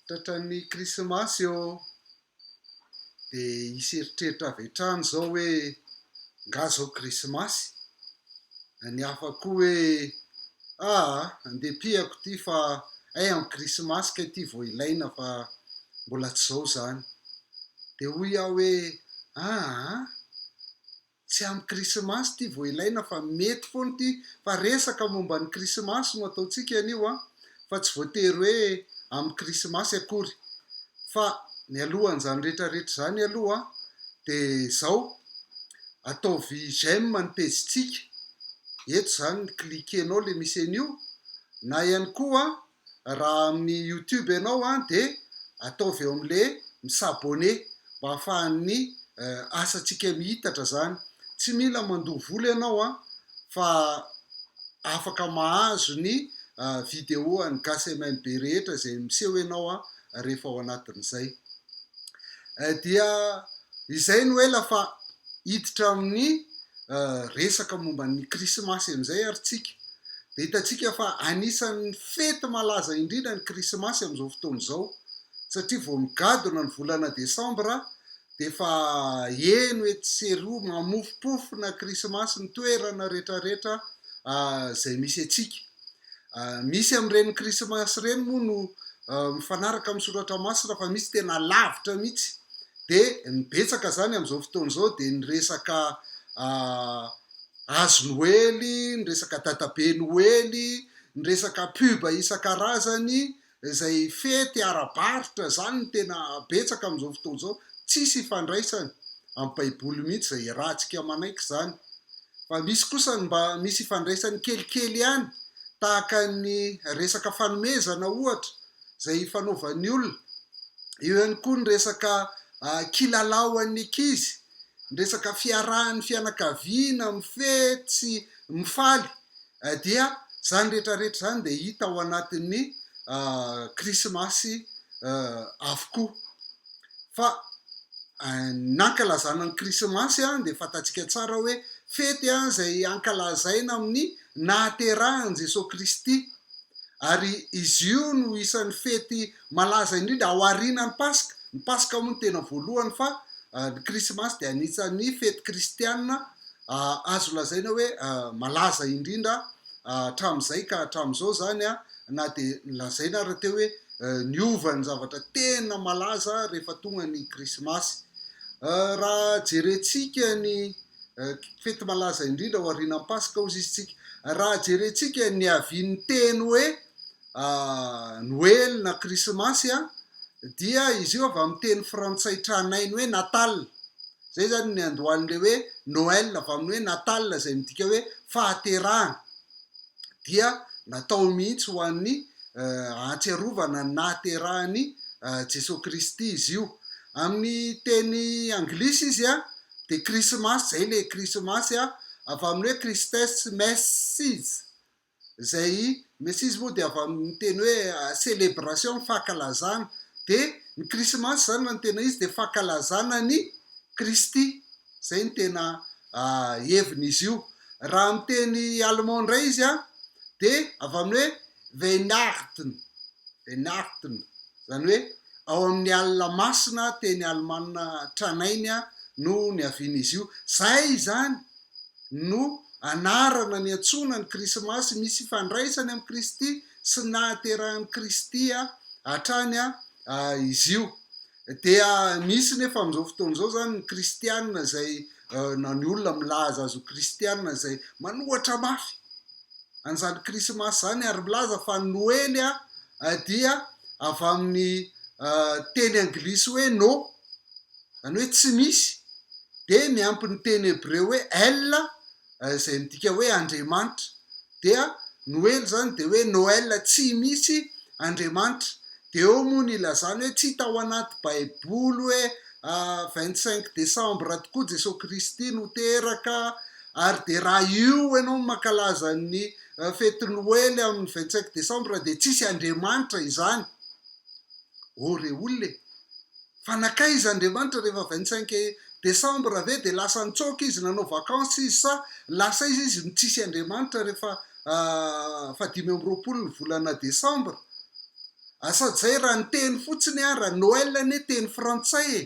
Tratran'ny krismasy ô! Dia hisy eritreritra avy hatrany izao hoe angaha izao krismasy? Na ny hafa koa hoe aa! Andiham-piako ity fa hay amin'ny krismasy kay ity vao ilaina fa mbola tsy izao izany. Dia hoy aho hoe aa! Tsy amin'ny Krismasy ity vao ilaina fa mety foana ity fa resaka momba ny Krismasy no ataontsika anio an! fa tsy voatery hoe amin'ny Krismasy akory. Fa mialohan'izany rehetrarehetra izany aloha dia izao, ataovy j'aime ny pejintsika, eto izany cliquer-nao ilay misy an'io, na ihany koa raha amin'ny youtube ianao an dia ataovy eo amin'le mi s'abonner mba afahan'ny asantsika mihitatra zany, tsy mila mandoa vola ianao an fa afaka mahazo ny video an'ny gasy MMB rehetra izay miseho ianao an rehefa ao anatin'izay dia izay no ela fa hiditra amin'ny resaka momba ny krismasy amin'izay ary tsika dia hitantsika fa anisan'ny fety malaza indrindra ny krismasy amin'izao fotoana izao satria vao migadona ny volana desambra dia efa heno etsy sy eroa mamofompofona krismasy ny toerana rehetrarehetra izay misy antsika Misy amin'ireny krismasy ireny moa no mifanaraka amin'ny soratra masina fa misy tena lavitra mihitsy. Dia ny betsaka izany amin'izao fotoana izao dia ny resaka hazo noely, ny resaka dadabe noely, ny resaka pub isan-karazany izay fety ara-barotra izany no tena betsaka amin'izao fotoana izao, tsisy ifandraisany amin'ny baiboly mihitsy izay iarahantsika manaiky izany, fa misy kosa ny mba misy ifandraisany kelikely ihany tahaka ny resaka fanomezana ohatra izay ifanaovan'ny olona, eo ihany koa ny resaka kilalao an'ny ankizy, ny resaka fiarahan'ny fianakaviana mifehy sy mifaly Dia izany rehetra rehetra izany dia hita ao anatin'ny krismasy avokoa. Fa ny ankalazana ny krismasy dia fantatsika tsara hoe fety izay ankalazaina amin'ny nahaterahan'i Jesoa Kristy. Ary izy io no isan'ny fety malaza indrindra ao aorianan'ny paska. Ny paska moa no tena voalohany fa ny krismasy dia anisan'ny fety kristianina azo lazaina hoe malaza indrindra hatramin'izay ka hatramin'izao izany na dia lazaina ary teo hoe niova ny zavatra tena malaza rehefa tonga ny Krismasy. Raha jerentsika ny fety malaza indrindra aorianan'ny Paska hozy izy tsika. Raha jerentsika niavian'ny teny hoe Noely na Krismasy a, dia izy io avy amin'ny teny frantsay tranainy hoe Natal. Izay izany ny andohalin'ilay hoe Noël avy amin'ny hoe Natal izay midika hoe fahaterahana. Dia natao mihitsy ho an'ny ahatsiarovana ny nahaterahan'i Jesoa Kristy izy io. Amin'ny teny anglisy izy a, dia Krismasy, izay ilay Krismasy a, avy amin'ny hoe Christes Messes. izay Messizy moa dia avy amin'ny teny hoe celebration, fankalazana. Dia ny Krismasy izany raha ny tena izy dia fankalazana an'i Kristy. Izay no tena hevin'izy io. Raha amin'ny teny allemand indray izy an, dia avy amin'ny hoe Weihnachten, Weihnachten, izany hoe ao amin'ny alina masina, teny alemana tranainy no niavian'izy io. Izay izany! no anarana niantsoana ny Krismasy misy ifandraisany amin'i Kristy sy ny nahaterahan'i Kristy hatrany izy io. Dia misy nefa amin'izao fotoana izao izany ny kristiana izay na ny olona milaza azy ho kristiana izay manohatra mafy an'izany Krismasy izany ary milaza fa ny Noely dia avy amin'ny teny anglisy hoe no izany hoe tsy misy, dia miampy ny teny hebreo hoe el, izay midika hoe Andriamanitra, dia noely izany dia hoe noel, tsy misy Andriamanitra, dia eo moa ny ilazana hoe tsy tao anaty baiboly hoe vingt cinq décembre tokoa Jesoa Kristy no teraka, ary dia raha io ianao no mankalaza ny fety noely amin'ny vingt cinq décembre dia tsisy Andriamanitra izany, oh re olona e! Fa nankaiza Andriamanitra rehefa vingt cinq décembre ve dia lasa nitsoaka izy nanao vacances izy sa lasa iza izy no tsisy Andriamanitra rehefa fahadimy amby roapolo ny volana décembre a sady zay raha ny teny fotsiny ara Noël anie teny frantsay e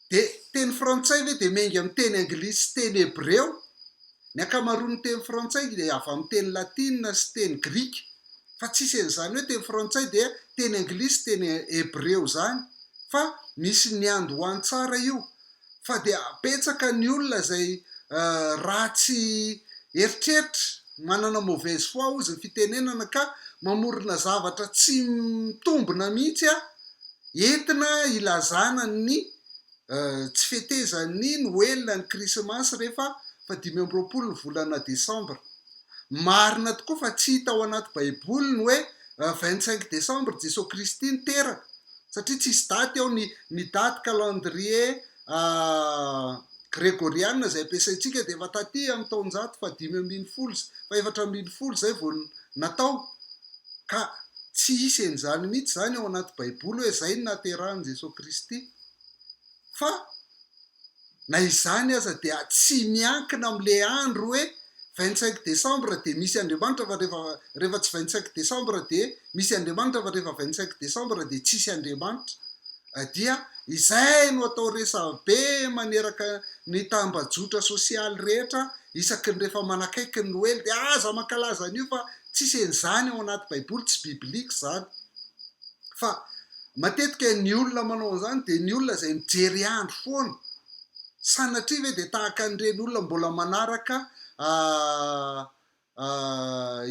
dia teny frantsay ve dia miainga amin'ny teny anglisy sy teny hebreo Ny ankamaroan'ny teny frantsay dia avy amin'ny teny latina sy teny grika, fa tsisy an'izany hoe teny frantsay dia teny anglisy sy teny hebreo izany, fa misy niandohany tsara io, fa dia betsaka ny olona izay ratsy eritreritra, manana mauvaise foi hozy ny fitenenana ka mamorona zavatra tsy mitombina mihitsy entina ilazana ny Tsy fetezan'ny Noela ny Krismasy rehefa fahadimy amby roapolo ny volana Desambra. Marina tokoa fa tsy hita ao anaty Baiboly ny hoe vingt cinq décembre Jesoa Kristy niteraka, satria tsisy daty ao ny ny daty calendrier gregoriana izay ampiasaintsika dia efa taty amin'ny taonjato fahadimy ambin'ny folo sy fahefatra ambin'ny folo izay vao natao, ka tsy hisy an'izany mihitsy izany ao anaty Baiboly hoe izay no nahaterahan'i Jesoa Kristy. fa na izany aza dia tsy miankina amin'ilay andro hoe vingt cinq decembre dia misy Andriamanitra fa rehefa rehefa tsy vingt cinq decembre dia misy Andriamanitra fa rehefa vingt cinq decembre dia tsisy Andriamanitra dia izay no atao resabe maneraka ny tambajotra sosialy rehetra isaky ny rehefa manakaiky ny Noely dia aza mankalaza an'io fa tsisy an'izany ao anaty baiboly tsy biblique izany fa matetika ny olona manao an'izany dia ny olona izay mijery andro foana, sanatria ve dia tahaka an'ireny olona mbola manaraka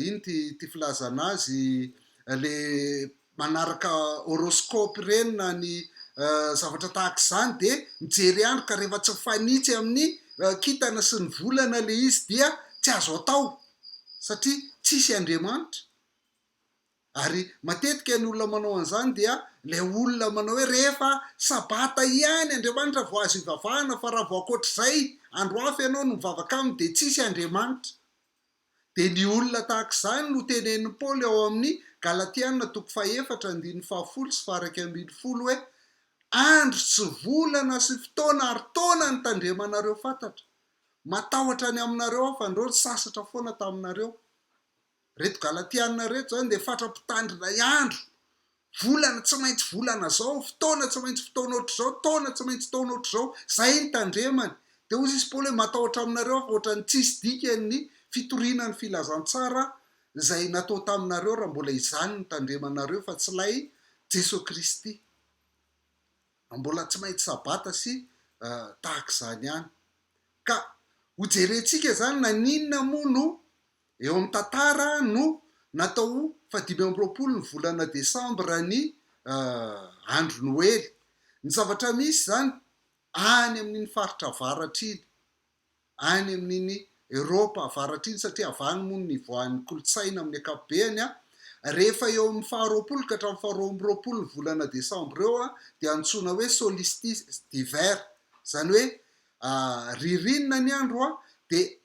ino ity ity filazana azy ilay manaraka horoscope ireny na ny zavatra tahaka izany dia mijery andro ka rehefa tsy mifanitsy amin'ny kintana sy ny volana ilay izy dia tsy azo atao satria tsisy Andriamanitra. Ary matetika ny olona manao an'izany dia ilay olona manao hoe rehefa sabata ihany Andriamanitra vao azo ivavahana fa raha vao ankoatr'izay andro hafa ianao no mivavaka aminy dia tsisy Andriamanitra. Dia ny olona tahaka izany no tenenin'i Paoly ao amin'ny Galatiana toko fahefatra andininy fahafolo sy faharaika ambin'ny folo hoe andro sy volana sy fotoana ary taona nitandremanareo fantatra. Matahotra any aminareo aho fa andreo nisasatra foana taminareo. Reto Galatiana reto zany dia fatra mpitandrina y andro, volana tsy maintsy volana zao, fotoana tsy maintsy fotoana ohatr'izao, taona tsy maintsy taona ohatr'izao, zay ny tandremany. Dia hoy izy Paoly hoe matahotra aminareo aho fa ohatran'ny tsisy dikany ny fitoriana ny filazantsara zay natao taminareo raha mbola izany ny tandremanareo fa tsy ilay Jeso Kristy. Raha mbola tsy maintsy sabata sy tahak'izany ihany. Ka hojerentsika zany naninona moa no Eo amin'ny tantara no natao ho fahadimy amby roapolo ny volana desambra ny andro noely. Ny zavatra misy izany any amin'iny faritra avaratra iny, any amin'iny Eropa avaratra iny satria avy any moa no nivoahan'ny kolontsaina amin'ny ankapobeny, rehefa eo amin'ny faharoapolo ka hatramin'ny faharoa amby roapolo ny volana desambra eo dia antsoina hoe solstice d'hiver, izany hoe ririnina ny andro dia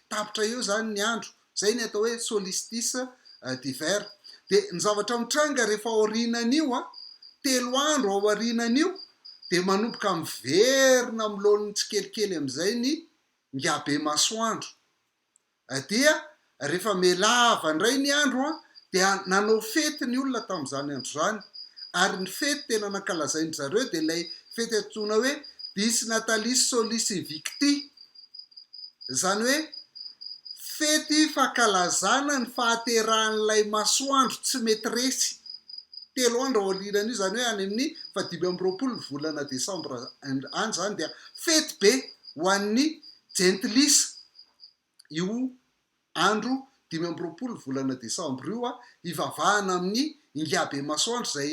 tapitra eo izany ny andro, izay ny atao hoe solstice d'hiver. Dia ny zavatra mitranga rehefa aorianan'io, telo andro aorianan'io, dia manomboka miverina amin'ny laoniny tsikelikely amin'izay ny ngiabe masoandro. Dia rehefa mihalava indray ny andro, dia nanao fety ny olona tamin'izany andro izany. Ary ny fety tena nankalazain-dry zareo dia ilay fety antsoina hoe Dies Natalis Solis Invicti. Izany hoe fety fankalazana ny fahaterahan'ilay masoandro tsy mety resy. Telo andro aorianan'io, izany hoe any amin'ny fahadimy amby roapolo ny volana desambra any izany dia fety be ho an'ny jentilisa io andro dimy amby roapolo ny volana desambra io, hivavahana amin'ny Ingahibe Masoandro izay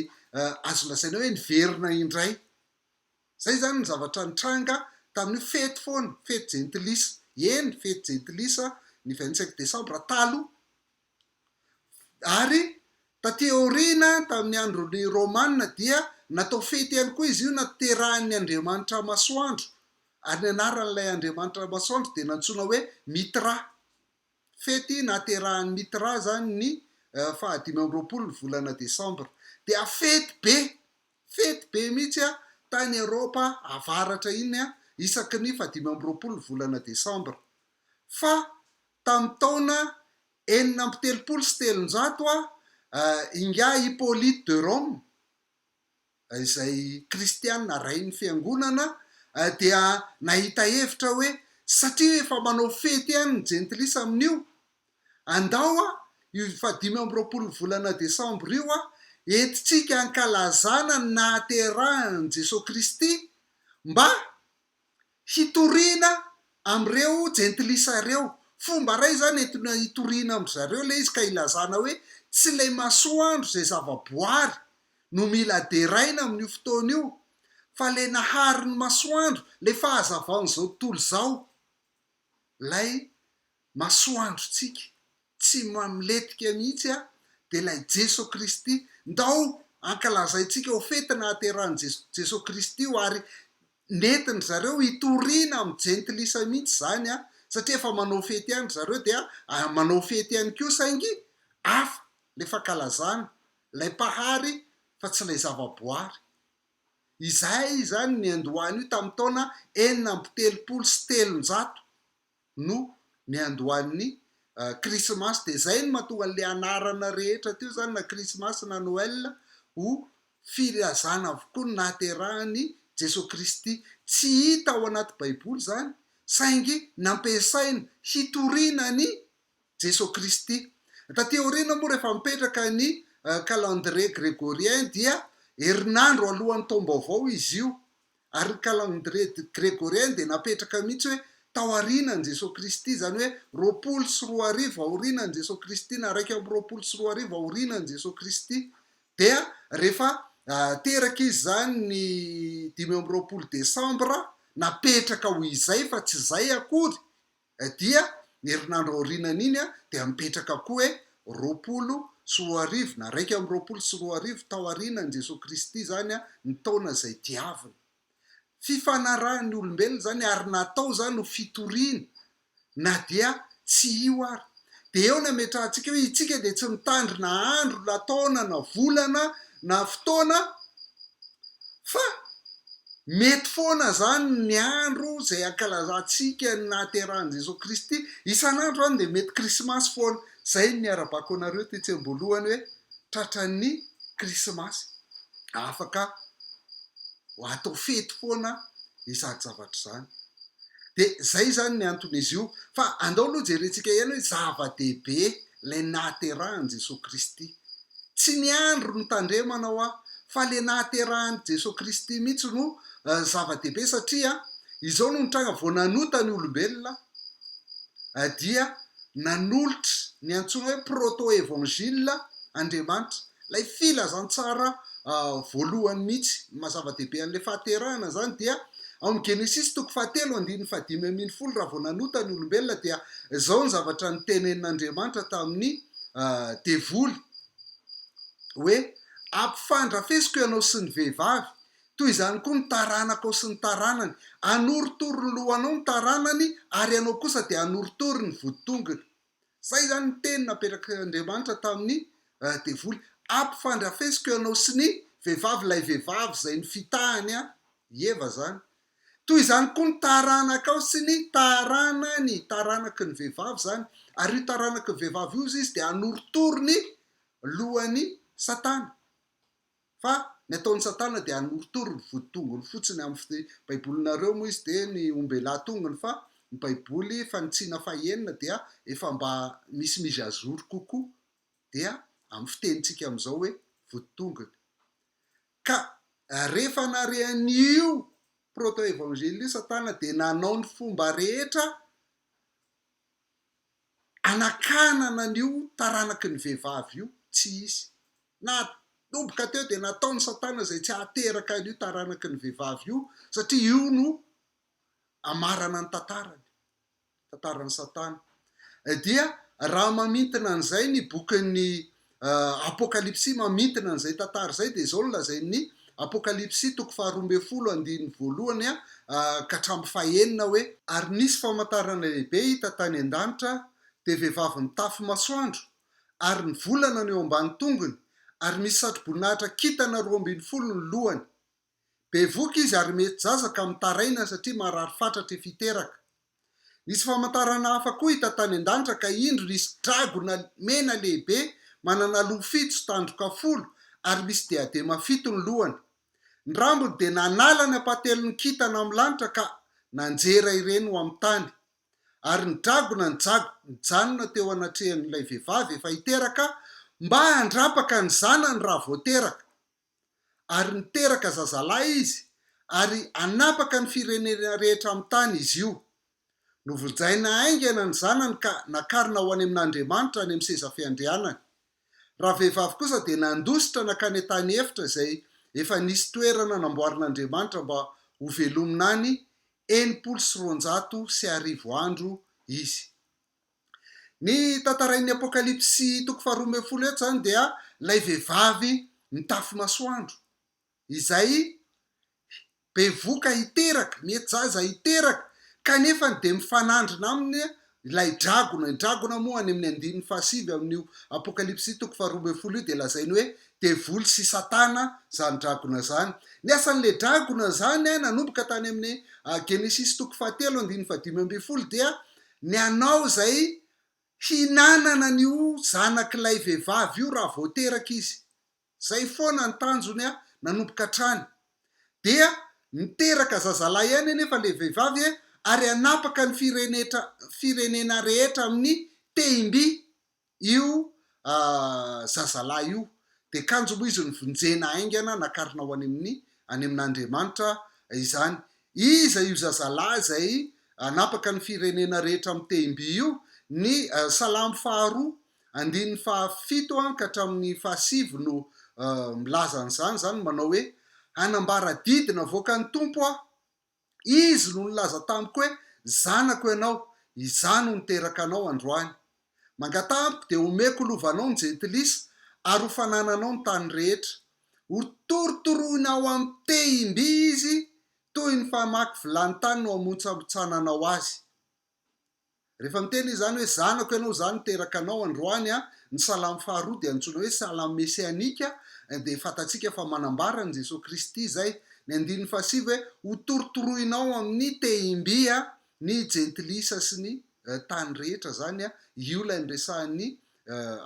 azo lazaina hoe niverina indray. Izay izany ny zavatra nitranga tamin'io fety foana, fety jentilisa, eny, fety jentilisa, ny vingt cinq décembre taloha. Ary taty aoriana, tamin'ny andron'ny Romana, dia natao fety ihany koa izy io, naterahan'ny andriamanitra masoandro, ary ny anaran'ilay andriamanitra masoandro dia nantsoina hoe Mithra. fety nahaterahan'i Mitra izany ny fahadimy amby roapolo ny volana desambra dia fety be, fety be mihitsy tany Eropa avaratra iny isaky ny fahadimy amby roapolo ny volana desambra. Fa tamin'ny taona enina amby telopolo sy telonjato, ingahy Hyppolite de Rome, izay kristiana rain'ny fiangonana dia nahita hevitra hoe satria efa manao fety ihany ny jentilisa amin'io, andao aho io fahadimy amby roapolon'ny volana desambra io aho entintsika hankalazana ny nahaterahan'i Jesoa Kristy mba hitoriana amin'ireo jentilisa ireo. Fomba iray izany entina hitoriana amin-dry zareo ilay izy ka hilazana hoe tsy ilay masoandro izay zava-boary no mila deraina amin'io fotoana io fa ilay naharin'ny masoandro, ilay fahazavaon'izao tontolo izao ilay masoandrontsika tsy mamletika mihitsy a dia ilay Jeso Kristy ndao ankalazaintsika ho fety nahaterahan'i Jeso Kristy io ary nentiny zareo hitoriana amin'ny jentilisa mihitsy izany a satria efa manao fety ihany ry zareo dia manao fety ihany koa saingy hafa ilay fankalazana ilay Mpahary fa tsy ilay zavaboary izahay izany niandoha an'io tamin'ny taona enina amby telopolo sy telonjato no niandohan'ny krismasy dia izay no mahatonga an'ilay anarana rehetra teo izany na krismasy na noel ho filazana avokoa ny nahaterahan'i Jesoa Kristy. Tsy hita ao anaty baiboly izany saingy nampiasaina hitoriana an'i Jesoa Kristy. Taty aoriana moa rehefa mipetraka ny calendrier gregorien dia herinandro alohan'ny taom-baovao izy io Ary ny calendrier grégorien dia napetraka mihitsy hoe tao aorianan'i Jesoa Kristy, izany hoe roapolo sy roa arivo aorianan'i Jesoa Kristy na iraika amby roapolo sy roa arivo aorianan'i Jesoa Kristy. Dia rehefa teraka izy izany ny dimy amby roapolo desambra, napetraka ho izay fa tsy izay akory Dia ny herinandro aorianan'iny dia mipetraka koa hoe roapolo sy roa arivo na iraika amby roapolo sy roa arivo tao aorianan'i Jesoa Kristy izany ny taona izay diavina. Fifanarahan'ny olombelona izany ary natao izany ho fitoriana na dia tsy io ary. Dia eo ny hametrahantsika hoe itsika dia tsy mitandry na andro na taona na volana na fotoana fa mety foana zany ny andro izay ankalazantsika ny nahaterahan'i Jesoa Kristy. Isan'andro zany dia mety krismasy foana. Izay ny harabako anareo tetsy am-boalohany hoe tratran'ny krismasy. Afaka ho atao fety foana izany zavatra izany. Dia izay izany ny anton'izy io. Fa andao aloha jerentsika ihany hoe zava-dehibe ilay nahaterahan'i Jesoa Kristy. Tsy ny andro no tandremana hoa, fa ilay nahaterahan'i Jesoa Kristy mihitsy no zava-dehibe satria izao no nitranga vao nanota ny olombelona dia nanolotra ny antsoina hoe proto-evangile Andriamanitra Ilay filazantsara voalohany mihitsy ny maha-zava-dehibe an'ilay fahaterahana izany dia ao amin'ny Genesisy toko fahatelo andininy fahadimy ambin'ny folo raha vao nanota ny olombelona dia izao ny zavatra notenenin'Andriamanitra tamin'ny devoly hoe ampifandrafesiko ianao sy ny vehivavy toy izany koa ny taranakao sy ny taranany, hanorotoro ny lohanao ny taranany ary ianao kosa dia hanorotoro ny voditongony. Izay izany ny teny napetrak'Andriamanitra tamin'ny devoly. Ampifandrafesiko ianao sy ny vehivavy, ilay vehivavy izay nifitahany an, i Eva izany. Toy izany koa ny taranakao sy ny taranany, taranaky ny vehivavy izany. Ary io taranaky ny vehivavy io, hoy izy, dia hanorotoro ny lohan'i Satana. Fa ny ataon'i satana dia hanorotoro ny voditongony fotsiny amin'ny baibolinareo moa izy dia ny ombelà tongony fa ny baiboly fanitsiana fahenina dia efa mba misy mise à jour kokoa dia amin'ny fitenintsika amin'izao hoe voditongony ka rehefa nare an'io proto-evangile io satana dia nanao ny fomba rehetra anakanana an'io taranaky ny vehivavy io, tsy hisy. Nanomboka teo dia nataon'i Satana izay tsy hahateraka an'io taranaky ny vehivavy io, satria io no amarana ny tantarany, tantaran'i Satana. Dia raha mamintina an'izay ny bokin'ny Apokalypsy mamintina an'izay tantara izay dia izao no lazain'ny Apokalypsy toko faharoa ambin'ny folo andininy voalohany ka hatramin'ny fahenina hoe, Ary nisy famantarana lehibe hita tany an-danitra, dia vehivavy mitafy masoandro, ary ny volana no eo ambany tongony, ary misy satroboninahitra kintana roa ambin'ny folo ny lohany. Bevoka izy ary mety zaza ka mitaraina satria marary fatratra efa hiteraka. Nisy famantarana hafa koa hita tany an-danitra ka indro nisy dragona mena lehibe manana loha fito sy tandroka folo ary misy diadema fito ny lohany. Ny rambony dia nanala ny ampahatelon'ny kintana amin'ny lanitra ka nanjera ireny ho amin'ny tany. Ary ny dragona nijag, nijanona teo anatrehan'ilay vehivavy efa hiteraka mba handrapaka ny zanany raha vao teraka. ary niteraka zazalahy izy ary hanapaka ny firenena rehetra amin'ny tany izy io. Novoljaina haingana ny zanany ka nakarina ho any amin'Andriamanitra any amin'ny seza fiandrianany. Ravehivavy kosa dia nandositra nankany an-tany efitra izay efa nisy toerana namboarin'Andriamanitra mba hovelomina any enimpolo sy roanjato sy arivo andro izy. Ny tantarain'ny Apokalypsy toko faharoa ambin'ny folo eto izany dia ilay vehivavy mitafy masoandro, izay bevoka hiteraka, mety zaza hiteraka, kanefa dia mifanandrina aminy ilay dragona. Ny dragona moa any amin'ny andininy fahasivy amin'io Apokalypsy toko faharoa ambin'ny folo io dia lazainy hoe devoly sy Satana izany dragona izany. Ny asan'ilay dragona izany nanomboka tany amin'ny Genesisy toko fahatelo andininy fahadimy ambin'ny folo dia ny anao izay hinanana ny ho zanak'ilay vehivavy io raha vao teraka izy, izay foana ny tanjony a! nanomboka hatrany dia niteraka zazalahy ihany anefa ilay vehivavy e! ary hanapaka ny firenena rehetra amin'ny tehim-by Io zazalahy io dia kanjo moa izy novonjena haingana nakarina ho any amin'ny any amin'Andriamanitra izany. Iza io zazalahy izay hanapaka ny firenena rehetra amin'ny tehim-by io? Ny Salamo faharoa andininy fahafito ka hatramin'ny fahasivy no milaza an'izany, izany manao hoe, Hanambara didy navoakan'ny Tompo aho, Izy no nilaza tamiko hoe, Zanako ianao, Izaho no niteraka anao androany. Mangataha amiko, dia homeko lovanao ny jentilisa, ary ho fanananao ny tany rehetra. Hotorotoroina ao amin'ny tehim-by izy, toy ny famaky vilany tany no hamontsambontsananao azy. Rehefa miteny izy izany hoe, Zanako ianao izany niteraka anao androany, ny salamo faharoa dia antsoina hoe salamo mesianika, dia fantatsika fa manambara an'i Jesoa Kristy izay. Ny andininy fahasivy hoe, Hotorotoroinao amin'ny tehim-by ny jentilisa sy ny tany rehetra, izany io ilay niresahan'ny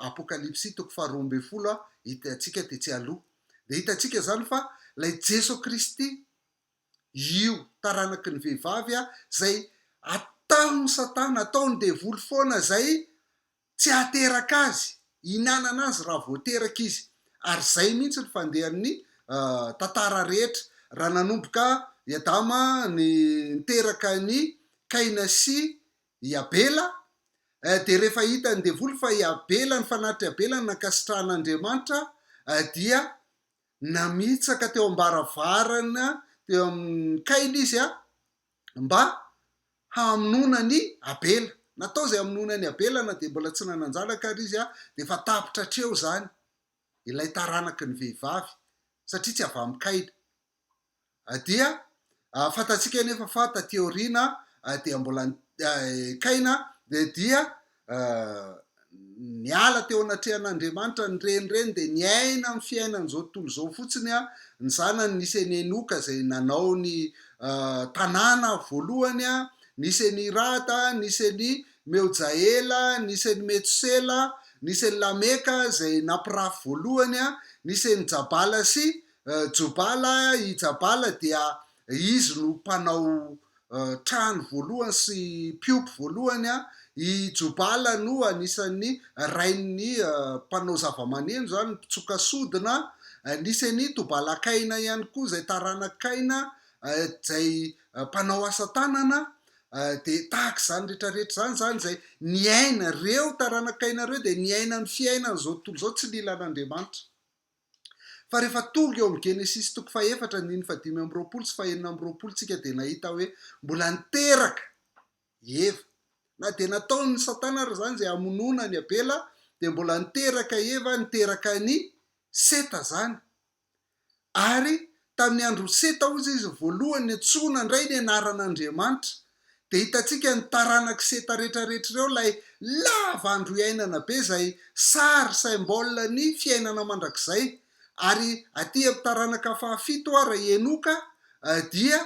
Apokalypsy toko faharoa ambin'ny folo hitantsika tetsy aloha. Dia hitantsika izany fa ilay Jesoa Kristy io taranaky ny vehivavy izay ataon'i satana, ataon'ny devoly foana izay tsy hahateraka azy, hihinanana azy raha vao teraka izy. Ary izay mihitsy ny fandehan'ny tantara rehetra. Raha nanomboka i Adama niteraka an'i Kaina sy i Abela, dia rehefa hitan'ny devoly fa i Abela, ny fanatry Abela no nankasitrahan'Andriamanitra, dia Namitsaka teo am-baravarana teo amin'ny Kaila izy mba hamonoana an'i Abela. Natao izay hamonoana an'i Abela na dia mbola tsy nanan-janaka ary izy, dia efa tapitra hatreo izany ilay taranaky ny vehivavy, satria tsy avy amin'i Kaila. Dia fantatsika anefa fa taty aoriana dia mbola Kaina dia niala teo anatrehan'Andriamanitra, ny renireny dia niaina amin'ny fiainan'izao tontolo izao fotsiny, ny zanany nisy an'i Enoka izay nanao ny tanàna voalohany, nisy an'i Irada, nisy an'i Meojaela, nisy an'i Metosela, nisy an'i Lameka izay nampirafy voalohany, nisy an'i Jabala sy Jobala, i Jabala dia izy no mpanao trano voalohany sy mpiompy voalohany an, i Jobala no anisan'ny rain'ny mpanao zavamaneno izany, ny mpitsoka sodina, nisy an'i Tobalakaina ihany koa izay taranak'i Kaina izay mpanao asa tanana, dia tahaka izany rehetra rehetra izany izany izay niaina, ireo taranak'i Kaina ireo dia niaina ny fiainana izao tontolo izao tsy nila an'Andriamanitra. Fa rehefa tonga eo amin'ny Genesisy toko fahefatra andininy fahadimy amby roapolo sy fahenina amby roapolo tsika dia nahita hoe mbola niteraka i Eva. Na dia nataon'i Satana ary izany izay hamonoana an'i Abela dia mbola niteraka i Eva, niteraka an'i Seta izany. Ary Tamin'ny andron'i Seta hozy izy voalohany niantsoa nandray ny anaran'Andriamanitra. Dia hitantsika ny taranak'i Seta rehetrarehetra ireo ilay lava andro iainana be izay sary, symbole, ny fiainana mandrakizay. Ary aty amin'ny taranaka fahafito ho'a ry Henoka dia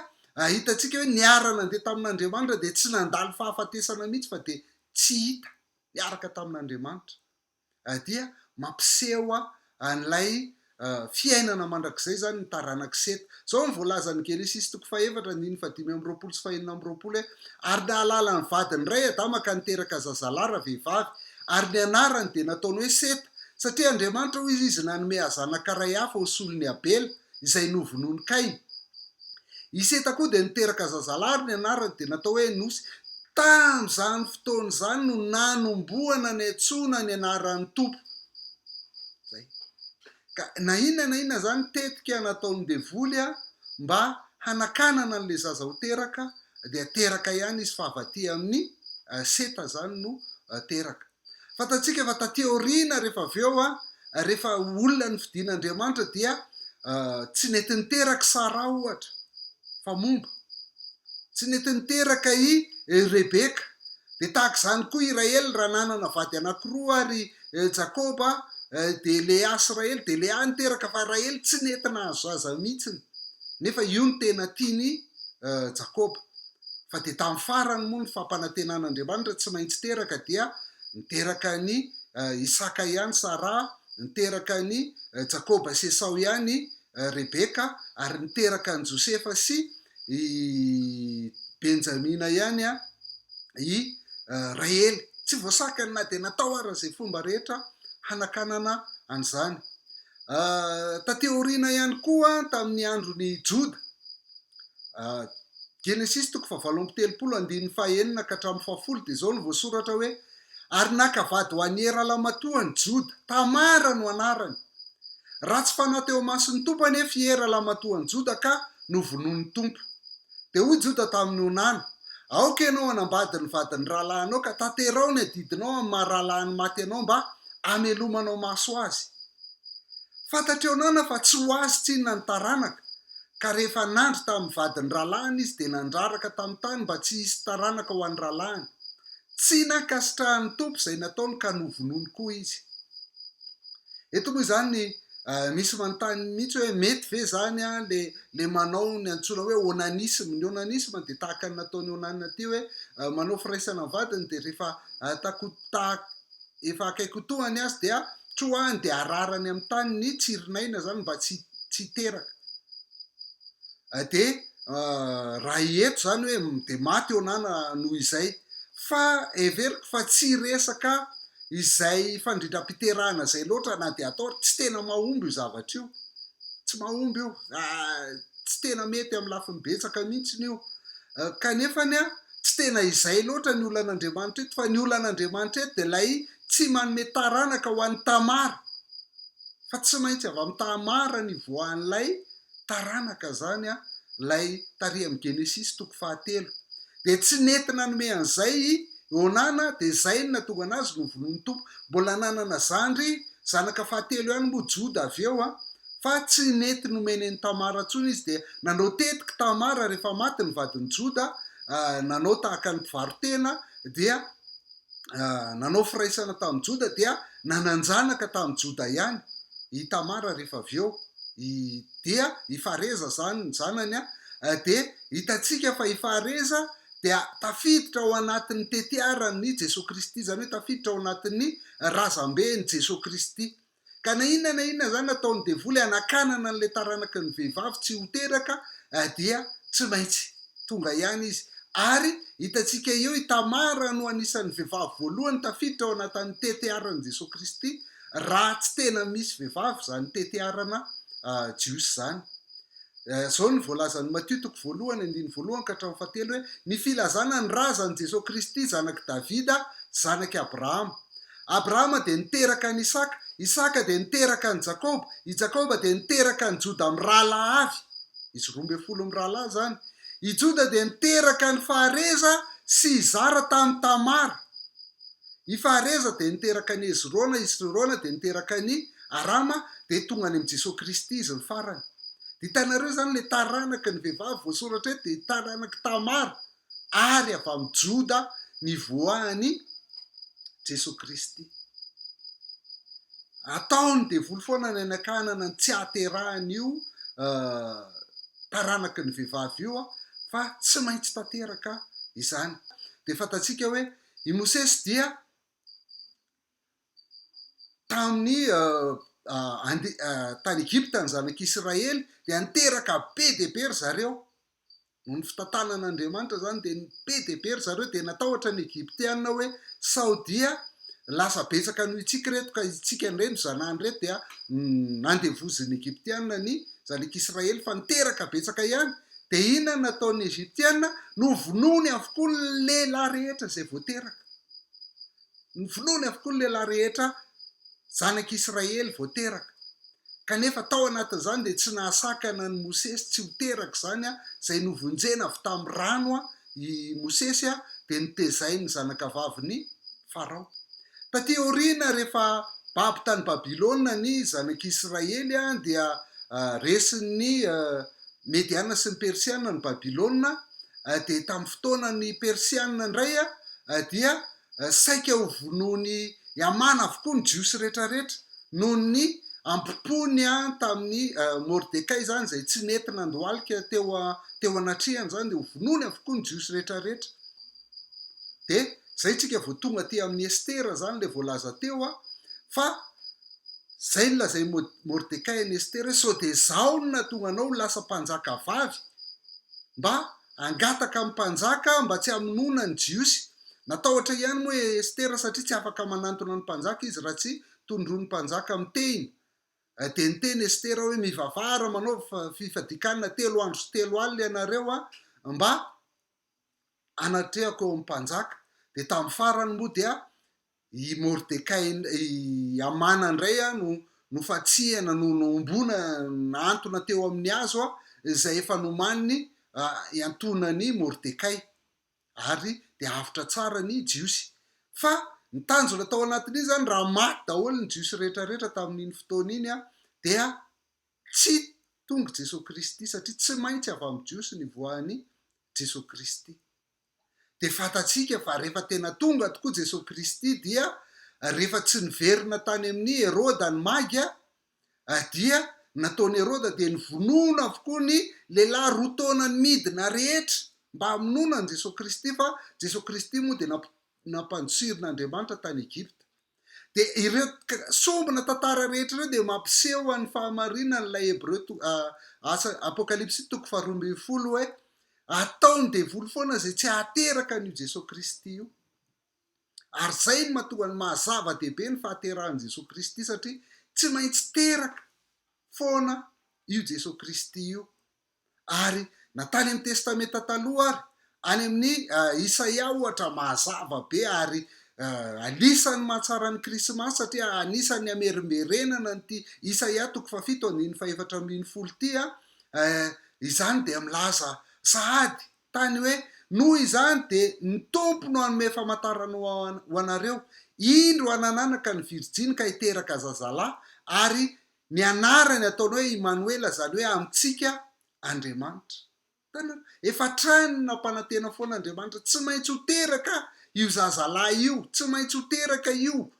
hitantsika hoe niara-nandeha tamin'Andriamanitra dia tsy nandalo fahafatesana mihitsy fa dia tsy hita niaraka tamin'Andriamanitra. dia mampiseho an'ilay fiainana mandrakizay izany ny taranak'i Seta. Izao no voalazan'i Genesisy toko fahefatra andininy fahadimy amby roapolo sy fahenina amby roapolo hoe, Ary nahalala ny vadiny indray Adama ka niteraka zazalahy ravehivavy, ary ny anarany dia nataony hoe Seta, satria Andriamanitra, hoy izy, nanome hazanaka iray hafa ho solon'i Abela. izay novonoin'i Kaina. I Seta koa dia niteraka zazalahy ary ny anarany dia natao hoe Enosy. Tamin'izany fotoana izany no nanombohana niantsoana ny anaran'ny Tompo. Izay. Ka na inona na inona izany tetika nataon'ny devoly mba hanakanana an'ilay zaza ho teraka dia teraka ihany izy fa avy aty amin'ny Seta izany no teraka. Fantatsika fa taty aoriana rehefa avy eo, rehefa olona nofidin' Andriamanitra dia tsy nety niteraka i Sara ohatra fa momba. Tsy nety niteraka i Rebeka. Dia tahaka izany koa i Rahely raha nanana vady anankiroa ary Jakoba dia Lea sy Rahely dia Lea niteraka fa Rahely tsy nety nahazo zaza mihitsy nefa io no tena tian' i Jakoba. fa dia tamin'ny farany moa ny fampanantenan'Andriamanitra tsy maintsy teraka dia niteraka an'i Isaka ihany Saraha, niteraka an'i Jakoba sy Esao ihany Rebeka ary niteraka an'i Josefa sy i Benjamina ihany i Rahely. Tsy voasakany na dia natao aza izay fomba rehetra hanakanana an'izany. Taty aoriana ihany koa tamin'ny andron'i Joda Genesisy toko fahavalo amby telopolo andininy fahenina ka hatramin'ny fahafolo dia izao no voasoratra hoe, Ary naka vady ho an'i Hera lamatoany, Joda, Tamara no anarany. Ratsy fanahy teo imason'ny Tompo anefa i Hera lamatoan'i Joda ka novonoin'ny Tompo. Dia hoy Joda tamin'i Onana, Aoka ianao hanambady ny vadin'ny rahalahinao ka tanteraho ny adidinao amin'ny maha rahalahiny maty anao mba hamelomanao maso azy. Fantatr'i Onana fa tsy ho azy tsinona ny taranaka, Ka rehefa nandry tamin'ny vadin'ny rahalahiny izy dia nandraraka tamin'ny tany mba tsy hisy taranaka ho an'ny rahalahiny. Tsy nankasitrahan'ny Tompo izay nataony ka novonoiny koa izy. Eto moa izany misy manontany mihitsy hoe mety ve izany ilay ilay manao ny antsoina hoe onanisme. Ny onanisme dia tahaka ny nataon'i Onana ity hoe manao firaisana amin'ny vadiny dia rehefa takotaha efa akaiky ho tohany azy dia troahany dia ararany amin'ny tany ny tsirinaina izany mba tsy tsy hiteraka dia raha eto izany hoe dia maty eo na noho izay fa heveriko fa tsy resaka izay fandrindram-piterahana izay loatra na dia atao ary tsy tena mahomby io zavatra io tsy mahomby io tsy tena mety amin'ny lafiny betsaka mihitsy io kanefa ny Tsy tena izay loatra ny olan'Andriamanitra eto fa ny olan'Andriamanitra eto dia ilay tsy manome taranaka ho an'i Tamara fa tsy maintsy avy amin'i Tamara ny hivoahan'ilay taranaka izany an, ilay tary amin'ny Genesisy toko fahatelo. Dia tsy nety nanome an'izay i Onana dia izay no nahatonga anazy novonoin'ny Tompo. Mbola nanana zandry, zanaka fahatelo ihany moa Joda avy eo an! Fa tsy nety nomeny an'i Tamara intsony izy dia nanao tetik'i Tamara rehefa maty ny vadin'i Joda, nanao tahaka ny mpivaro-tena dia nanao firaisana tamin'i Joda dia nanan-janaka tamin'i Joda ihany i Tamara rehefa avy eo, dia i Fareza izany ny zanany an! Dia hitantsika fa i Fareza dia tafiditra ao anatin'ny tetiaran'i Jesoa Kristy, izany hoe tafiditra ao anatin'ny razamben'i Jesoa Kristy. Ka na inona na inona izany nataon'ny devoly hanakanana an'ilay taranaky ny vehivavy tsy ho teraka dia tsy maintsy tonga ihany izy. Ary hitantsika eo i Tamara no anisan'ny vehivavy voalohany tafiditra ao anatin'ny tetiaran'i Jesoa Kristy, raha tsy tena misy vehivavy izany tetiarana jiosy izany. Izao no voalazan'i Matio toko voalohany andininy voalohany ka hatramin'ny fahatelo hoe, Ny filazana ny razan'i Jesoa Kristy zanak'i Davida, zanak'i Abrahama. Abrahama dia niteraka an'i Isaka, Isaka dia niteraka an'i Jakoba, i Jakoba dia niteraka an'i Joda mirahalahy avy, izy roa ambin'ny folo mirahalahy izany, i Joda dia niteraka an'i Fahareza sy Zara tamin'i Tamara, i Fahareza dia niteraka an'i Hezrona, Hezrona dia niteraka an'i Arama dia tonga any amin'i Jesoa Kristy izy ny farany. Dia hitanareo izany ilay taranaka ny vehivavy voasoratra eto dia taranak'i Tamara ary avy amin'i Joda nivoahan'i Jesoa Kristy. Ataon'ny devoly foana ny anakanana ny tsy haterahan'io taranaky ny vehivavy io fa tsy maintsy tanteraka izany. Dia fantatsika hoe i Mosesy dia tamin'ny tany Egypta ny zanak'i Israely dia niteraka be dia be ry zareo, noho ny fitantanan'Andriamanitra izany dia be dia be ry zareo dia natahotra ny Egyptiana hoe sao dia lasa betsaka noho isika ireto ka isika indray no zanahany ireto dia nandevozin'ny Egyptiana ny zanak'i Israely fa niteraka betsaka ihany dia inona no nataon'ny Egyptiana, novonoiny avokoa ny lehilahy rehetra izay vao teraka. Novonoiny avokoa ny lehilahy rehetra zanak' Israely vao teraka. Kanefa tao anatin' izany dia tsy nahasakana an' i Mosesy tsy ho teraka izany, izay novonjena avy tamin'ny rano i Mosesy dia notezain' ny zanakavavin' i Farao. Taty aoriana rehefa babo tany Babilôna ny zanak' Israely dia resin' ny Mediana sy ny Persiana ny Babylona, dia tamin'ny fotoanan'ny Persiana indray dia saika ho vonoin'i Hamana avokoa ny Jiosy rehetrarehetra noho ny ampompony tamin'i Mordekay izany izay tsy nety nandohalika teo teo anatrehany izany dia ho vonoiny avokoa ny Jiosy rehetrarehetra dia izay tsika vao tonga aty amin'ny Estera izany ilay voalaza teo fa Izay no lazain'i Mordekay an'i Estera hoe, Sao dia izaho no nahatonga anao ho lasa mpanjaka vavy? Mba hangataka amin'ny mpanjaka aho mba tsy hamonoana ny Jiosy. Natahotra ihany moa i Estera satria tsy afaka manantona ny mpanjaka izy raha tsy tondroin'ny mpanjaka amin'ny tehina. Dia niteny Estera hoe, Mivavaha ary manaova fifadian-kanina telo andro sy telo alina ianareo mba hanatrehako eo amin'ny mpanjaka. Dia tamin'ny farany moa dia I Mordekay, i Hamana indray no nofantsihana, no nohomboana, nahantona teo amin'ny hazo izay efa nomaniny hiantoanan'i Mordekay. Ary dia avotra tsara ny Jiosy. Fa ny tanjona tao anatin'iny izany, raha maty daholo ny Jiosy rehetrarehetra tamin'iny fotoana iny, dia tsy tonga i Jesoa Kristy, satria tsy maintsy avy amin'ny Jiosy ny voan'i Jesoa Kristy. Dia fantatsika fa rehefa tena tonga tokoa Jesoa Kristy dia rehefa tsy niverina tany amin'i Heroda ny maga dia nataon'i Heroda dia nivonoina avokoa ny lehilahy roa taona ny midina rehetra mba hamonoana an'i Jesoa Kristy fa Jesoa Kristy moa dia nampanjohirin'Andriamanitra tany Egypta. Dia ireo sombina tantara rehetra ireo dia mampiseho an'ny fahamarinany ilay Hebreo to, a, asa, Apokalypsy toko faharoa ambin'ny folo hoe ataon'ny devoly foana izay tsy hahateraka an'io Jesoa Kristy io. Ary izay no matoa ny maha-zava-dehibe ny fahaterahan'i Jesoa Kristy satria tsy maintsy teraka foana io Jesoa Kristy io Ary na tany amin'ny Testamenta Taloha ary, any amin'ny Isaia ohatra, mazava be ary anisan'ny mahatsara ny Krismasy satria anisan'ny hamerimberenana an'ity Isaia toko fahafito andininy fahefatra ambin'ny folo ity an, izany dia milaza sahady tany hoe, Noho izany dia ny Tompo no hanome famantarana ho anareo, Indro hanananaka ny virjiny ka hiteraka zazalahy, ary Ny anarany ataony hoe Imanoela izany hoe amintsika Andriamanitra. Hitanareo? Efa hatrany nampanantena foana Andriamanitra, tsy maintsy ho teraka io zazalahy io, tsy maintsy ho teraka io.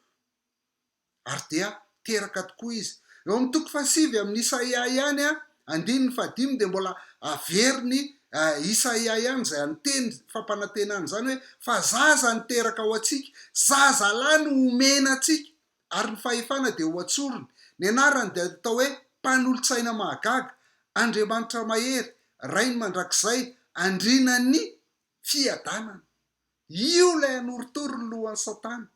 Ary dia teraka tokoa izy. Eo amin'ny toko fahasivy amin'ny Isaia ihany, andininy fahadimy, dia mbola averin'i Isaia ihany izay aniteny fampanantenana izany hoe, fa zaza no teraka ho antsika, zazalahy no homena antsika. ary ny fahefana dia ho an-tsorony. Ny anarany dia atao hoe Mpanolotsaina Mahagaga, Andriamanitra Mahery, Rainy Mandrakizay, Andrianan'ny Fiadanana. Io ilay hanorotoro ny lohan'i Satana.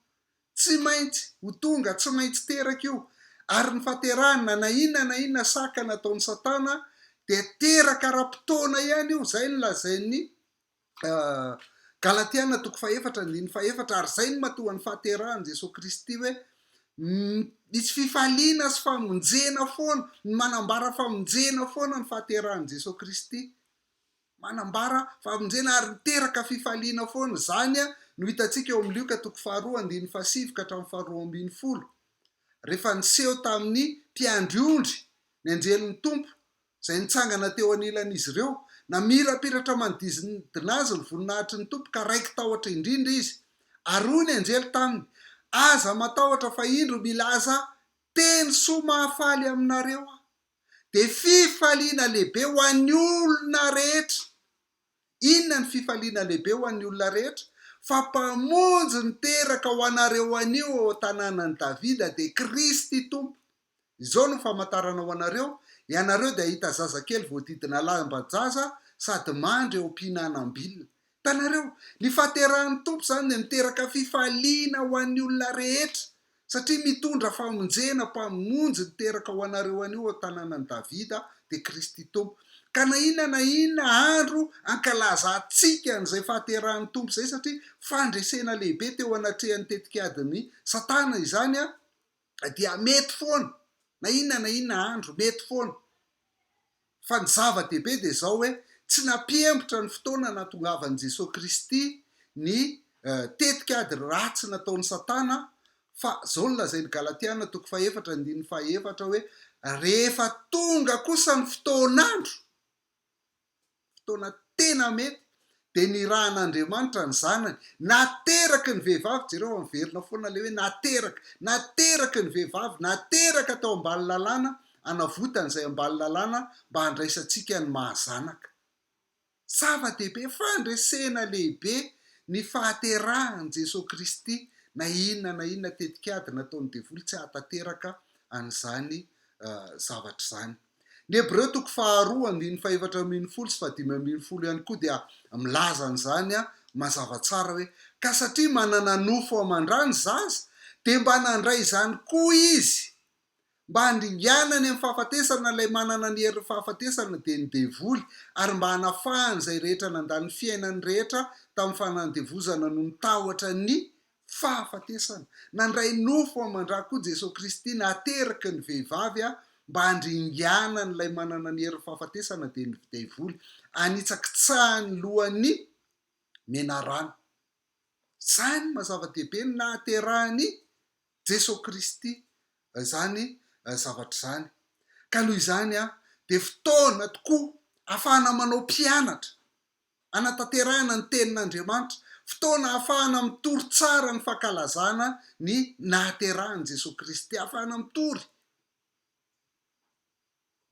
Tsy maintsy ho tonga, tsy maintsy teraka io. Ary ny fahaterahany, na na inona na inona sakana ataon'i Satana, dia teraka ara-potoana ihany io, izay no lazain'ny Galatiana toko fahefatra andininy fahefatra, ary izay no matoa ny fahaterahan'i Jesoa Kristy hoe misy fifaliana sy famonjena foana, ny manambara famonjena foana ny fahaterahan'i Jesoa Kristy, manambara famonjena ary miteraka fifaliana foana, izany no hitantsika eo amin'ny Lioka toko faharoa andininy fahasivy ka hatramin'ny faharoa ambin'ny folo, rehefa niseho tamin'ny mpiandry ondry ny anjelin'ny Tompo izay nitsangana teo anilan'izy ireo, namirapiratra manodidina azy ny voninahitry ny Tompo ka raiki-tahotra indrindra izy. Ary hoy ny anjely taminy, Aza matahotra fa indro milaza teny soa mahafaly aminareo aho. Dia fifaliana lehibe ho an'ny olona rehetra. Inona ny fifaliana lehibe ho an'ny olona rehetra? Fa Mpamonjy niteraka ho anareo anio ao an-tanànan'i Davida dia Kristy Tompo. Izao no famantarana ho anareo, Ianareo dia hahita zazakely voadidina lamban-jaza sady mandry eo am-pihinanam-bilona. Hitanareo? Ny fahaterahan'ny Tompo izany dia miteraka fifaliana ho an'ny olona rehetra, satria mitondra famonjena, Mpamonjy niteraka ho anareo anio ao an-tanànan'i Davida dia Kristy Tompo. Ka na inona na inona andro ankalazantsika an'izay fahaterahan'ny Tompo izay, satria fandresena lehibe teo anatrehan'ny tetikadin'i Satana izany, ka dia mety foana na inona na inona andro, mety foana. Fa ny zava-dehibe dia izao hoe tsy nampihembotra ny fotoana nahatongavan'i Jesoa Kristy ny tetik'ady ratsy nataon'i Satana fa izao no lazain'ny Galatiana toko fahefatra andininy fahaefatra hoe rehefa tonga kosa ny fotoan'andro fotoana tena mety, dia nirahan'Andriamanitra ny Zanany. Nahateraky ny vehivavy, jereo fa miverina foana ilay hoe nahateraky. Nahateraky ny vehivavy, nateraka tao ambany lalàna, hanavotany izay ambany lalàna mba handraisantsika ny maha-zanaka. Zava-dehibe, fandresena lehibe ny fahaterahan'i Jesoa Kristy, na inona na inona tetikady nataon'ny devoly tsy hahatanteraka an'izany zavatra izany. Ny Hebreo toko faharoa andininy fahefatra ambin'ny folo sy fahadimy ambin'ny folo ihany koa dia milaza an'izany mazava tsara hoe, Ka satria manana nofo aman-dra ny zaza, dia mba nandray izany koa izy, mba handringanany amin'ny fahafatesana ilay manana ny herin'ny fahafatesana, dia ny devoly, ary mba hanafahany izay rehetra nandany ny fiainany rehetra tamin'ny fanandevozana noho ny tahotra ny Fahafatesana. Nandray nofo aman-dra koa Jesoa Kristy nahateraky ny vehivavy mba handringanany ilay manana ny herin'ny fahafatesana dia ny Devoly, hanitsakitsahany lohan'ny menarana. Izany maha-zava-dehibe ny nahaterahan'i Jesoa Kristy izany zavatra izany. Ka noho izany dia fotoana tokoa ahafahana manao mpianatra. hanatanterahana ny Tenin'Andriamanitra, fotoana ahafahana mitory tsara ny fankalazana ny nahaterahan'i Jesoa Kristy, ahafahana mitory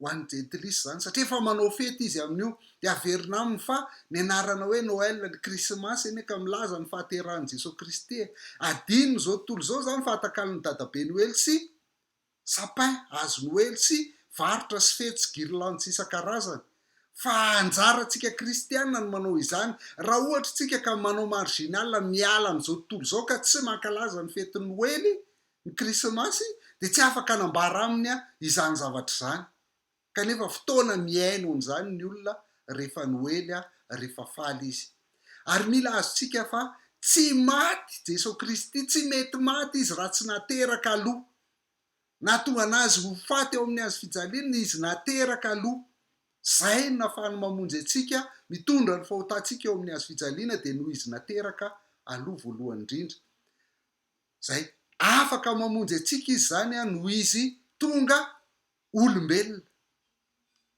ho an'ny Jentilisa izany, satria efa manao fety izy amin'io, dia averina aminy fa ny anarana hoe Noel, ny Krismasy anie ka milaza ny fahaterahan'i Jesoa Kristy e! Adino izao tontolo izao izany fahatakalon'ny Dadabe Noely sy sapin, hazo noely sy varotra sy fetsy, guirlandes isan-karazany. Fa anjarantsika kristiana ny manao izany. Raha ohatra isika ka manao marginal, miala amin'izao tontolo izao ka tsy mankalaza ny fetin'ny Noely, ny Krismasy, dia tsy afaka hanambara aminy izany zavatra izany. Kanefa fotoana mihaino an'izany ny olona rehefa noely a, rehefa faly izy. Ary mila azontsika fa tsy maty Jeso Kristy, tsy mety maty Izy raha tsy nateraka aloha. Nahatongan Azy ho faty eo amin'ny hazo fijaliana Izy nateraka aloha. Izay no nafahany mamonjy antsika, mitondra ny fahotantsika eo amin'ny hazo fijaliana dia noho Izy nateraka aloha voalohany indrindra. Izay. Afaka mamonjy antsika Izy izany a, noho Izy tonga Olombelona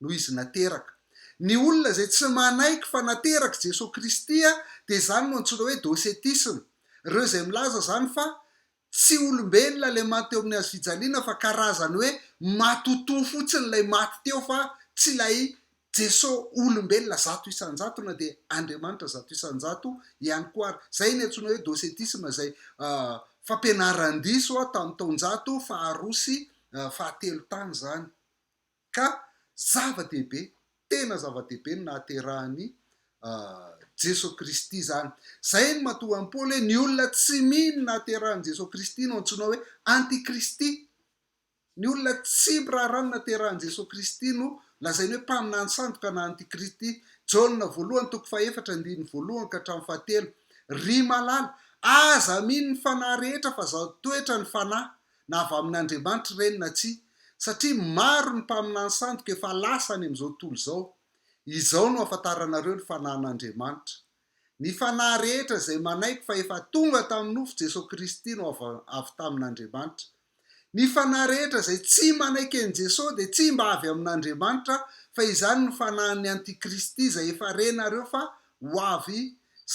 no izy nateraka. Ny olona izay tsy manaiky fa naterak'i Jesoa Kristy dia izany no antsoina hoe docetisme. Ireo izay milaza izany fa tsy olombelona ilay maty teo amin'ny hazofijaliana fa karazany hoe matotoa fotsiny ilay maty teo fa tsy ilay Jeso olombelona zato isan-jato na dia Andriamanitra zato isan-jato ihany koa ary. Izay ny antsoina hoe docetisme izay fampianaran-diso tamin'ny taon-jato faharoa sy fahatelo tany izany. Ka zava-dehibe, tena zava-dehibe ny nahaterahan'i Jeso Kristy izany. Izay no matoa an'i Paoly hoe ny olona tsy mino ny nahaterahan'i Jeso Kristy no antsoina hoe antikristy. Ny olona tsy miraharaha ny naterahan'i Jesoa Kristy no lazainy hoe mpaminany sandoka na antikristy, Jaona voalohany toko fahefatra andininy voalohany ka hatramin'ny fahatelo. Ry malala, aza amino ny fanahy rehetra fa zato toetra ny fanahy, na avy amin'Andriamanitra ireny na tsia, satria maro ny mpaminany sandoka efa lasa any amin'izao tontolo izao. Izao no ahafantaranareo ny fanahin'Andriamanitra. Ny fanahy rehetra izay manaiky fa efa tonga tamin'ny nofo Jesoa Kristy no avy avy tamin'Andriamanitra. Ny fanahy rehetra izay tsy manaiky an'i Jesoa dia tsy mba avy amin'Andriamanitra fa izany no fanahin'ny antikristy izay efa renareo fa ho avy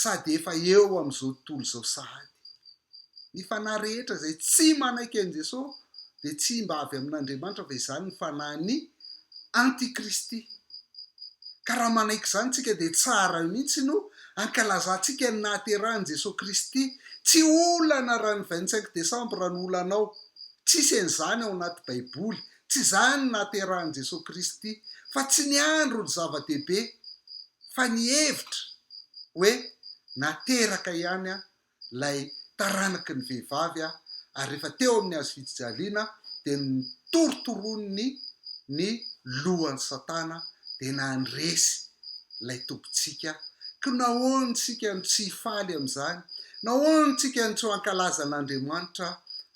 sady efa eo amin'izao tontolo izao sahady. Ny fanahy rehetra izay tsy manaiky an'i Jesoa dia tsy mba avy amin'Andriamanitra fa izany ny fanahin'ny antikristy. Ka raha manaiky izany tsika dia tsara mihitsy no ankalazantsika ny nahaterahan'i Jesoa Kristy. Tsy olana raha ny vingt cinq décembre no olanao. Tsisy an'izany ao anaty baiboly. Tsy izany ny nahaterahan'i Jesoa Kristy. Fa tsy ny andro no zava-dehibe fa ny hevitra hoe nateraka ihany aho ilay taranaky ny vehivavy aho ary rehefa teo amin'ny hazo fijijaliana dia notorontoroniny ny lohany satana dia nandresy ilay tobintsika ko nahoana isika no tsy hifaly amin'izany nahoana isika no tsy ho ankalaza an'Andriamanitra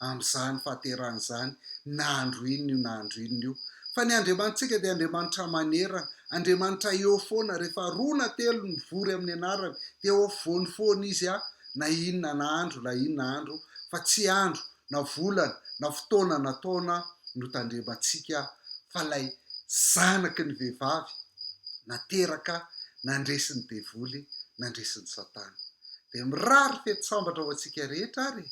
amin'izany fahaterahana izany na andro inona io na andro inona io, fa ny Andriamanitsika dia Andriamanitra manerana, Andriamanitra eo foana, rehefa roa na telo mivory amin'ny anarany dia eo afovoany foana izy a, na inona na andro na inona andro, fa tsy andro na volana na fotoana na taona no tandremantsika fa ilay zanaky ny vehivavy nateraka nandresin'ny devoly, nandresin'i satana. Dia mirary fety sambatra ho antsika rehetra ary e!